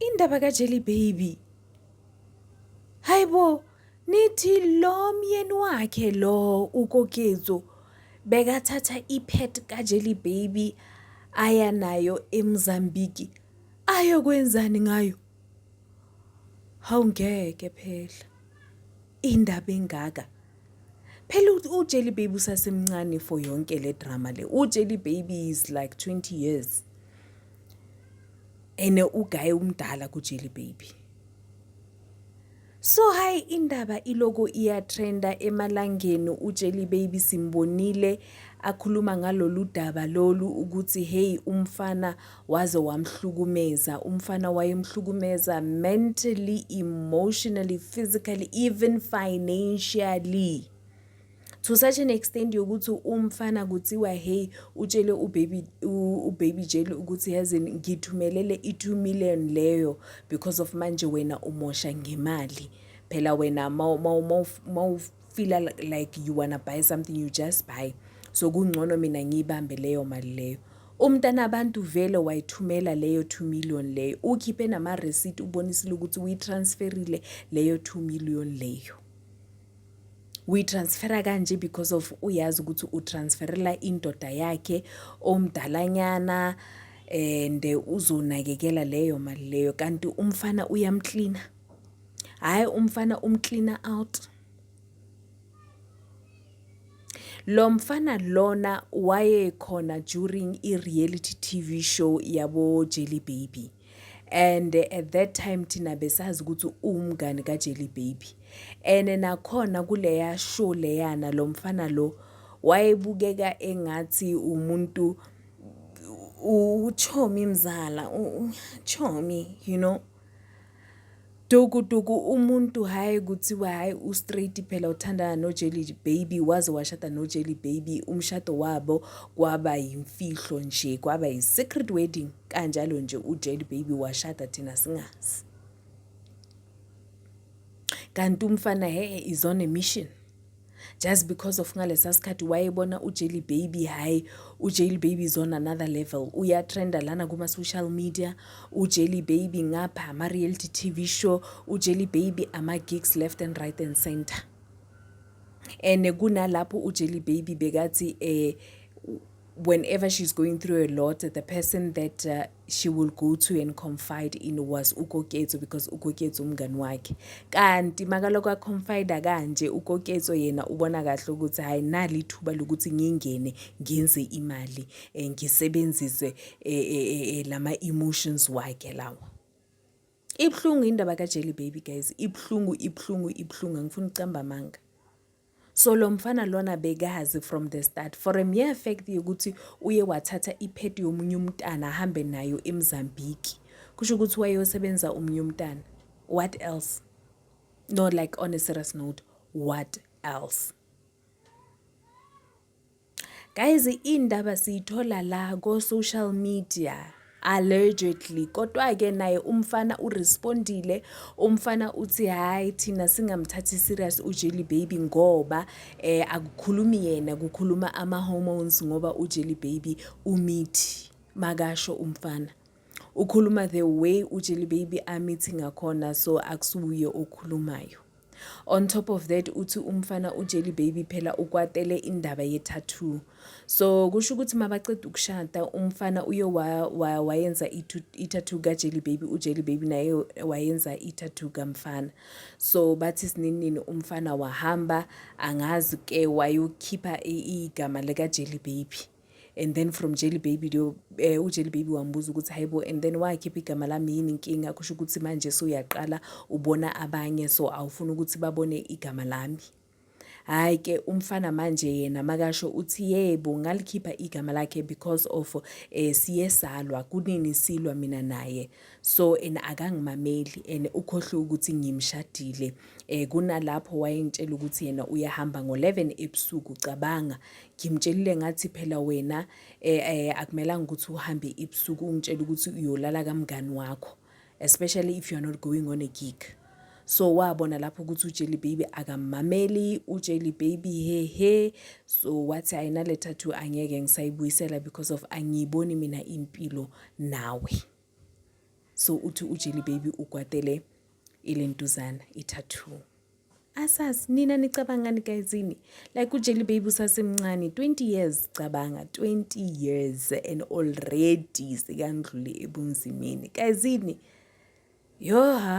Indaba kaJelly Baby. Hayibo, nithi lo myeni wakhe lo uKokezo bekathatha ipet kaJelly Baby aya nayo eMozambique ayokwenzani ngayo? Hawu ngeke phela. Indaba engaka. Phela uJelly Baby usasemncane for yonke le drama le. UJelly Baby is like 20 years. Ene ugaye umdala kuJelly Baby. So hayi indaba iloko iyatrenda emalangeni uJelly Baby simbonile akhuluma ngalolu daba lolu ukuthi hey umfana Waze wamhlukumeza umfana wayemhlukumeza mentally, emotionally, physically even financially to such an extent yokuthi umfana kuthiwa hey utshele ubaby ubaby jeli ukuthi yazi ngithumelele i-2 million leyo because of manje wena umosha ngemali phela wena fila like you wanna buy something you just buy so kungcono mina ngiyibambe leyo mali leyo umntana abantu vele wayithumela leyo 2 million leyo ukhiphe nama receipt ubonisile ukuthi uyitransferile leyo 2 million leyo uyitransfera kanje because of uyazi ukuthi utransferela indoda yakhe omdalanyana and uzonakekela leyo mali leyo kanti umfana uyamklina hhayi umfana umcleaner out lo mfana lona wayekhona during i-reality TV show yabo Jelly Baby and at that time thina besazi ukuthi uwumngani kaJelly Baby and nakhona kuleya show leyana lo mfana lo wayebukeka engathi umuntu uchomi mzala uchomi you know Dukuduku umuntu hhayi kuthiwa hhayi u-straight phela uthandana no-jelly baby waze washada no-jelly baby umshado wabo kwaba yimfihlo nje kwaba yi-secret wedding kanjalo nje u-jelly baby washada thina singazi kanti umfana he is on a mission just because of ngalesa sikhathi wayebona uJelly Baby hayi uJelly Baby is on another level uyatrenda lana kuma social media uJelly Baby ngapha ama reality TV show uJelly Baby ama gigs left and right and center and kunalapho uJelly Baby bekathi eh whenever she's going through a lot, the person that uh, she will go to and confide in was ukoketso because ukoketso umngani wakhe kanti makaloko aconfida kanje ukoketso yena ubona kahle ukuthi hhayi nali ithuba lokuthi ngingene ngenze imali um ngisebenzise um lama-emotions wakhe lawa ibuhlungu indaba kajeli baby guys ibuhlungu ibuhlungu ibuhlungu angifuni ukucamba amanga so lo mfana lona bekazi from the start for a mere fact yokuthi uye wathatha iphedi yomunye umntana ahambe nayo emzambiki kusho ukuthi wayeyosebenza omunye umntana what else no like on a serious note what else Guys indaba siyithola la ko social media allegedly kodwa ke naye umfana urespondile umfana uthi hayi thina singamthathi serious uJelly baby ngoba eh akukhulumi yena kukhuluma ama hormones ngoba uJelly baby umithi makasho umfana ukhuluma the way uJelly baby amithi ngakhona so akusuye okhulumayo On top of that uthi umfana uJelly Baby phela ukwatele indaba ye-tattoo. So kusho ukuthi mabaceda ukushada umfana uye wayenza i-tattoo kaJelly Baby, uJelly Baby naye wayenza i-tattoo kamfana. So bathi sininini umfana wahamba angazi ke wayokhipha igama likaJelly Baby. and then from jelly baby leyo um eh, ujelly baby wambuza ukuthi hayibo and then wakhipha igama lami yini inkinga kusho ukuthi manje suyaqala ubona abanye so awufuni ukuthi babone igama lami hhayi ke umfana manje yena makasho uthi yebo ngalikhipha igama lakhe because of um siye salwa kunini silwa mina naye so and akangimameli and ukhohlwe ukuthi ngimshadile um kunalapho wayengitshela ukuthi yena uyahamba ngo-11 ebusuku cabanga ngimtshelile ngathi phela wena um eh, um eh, akumelanga ukuthi uhambe ebusuku ungitshela ukuthi uyolala kamngani wakho especially if you're not going on a gig so wabona lapho ukuthi uJelly baby akamameli uJelly baby he he so wathi ayinale tattoo angeke ngisayibuyisela because of angiyiboni mina impilo nawe so uthi uJelly baby ukwatele ilentuzana i-tattoo Asas nina nicabangani guyzini like uJelly Baby usasemncane 20 years cabanga 20 years and already sekandlule ebunzimeni guyzini yoha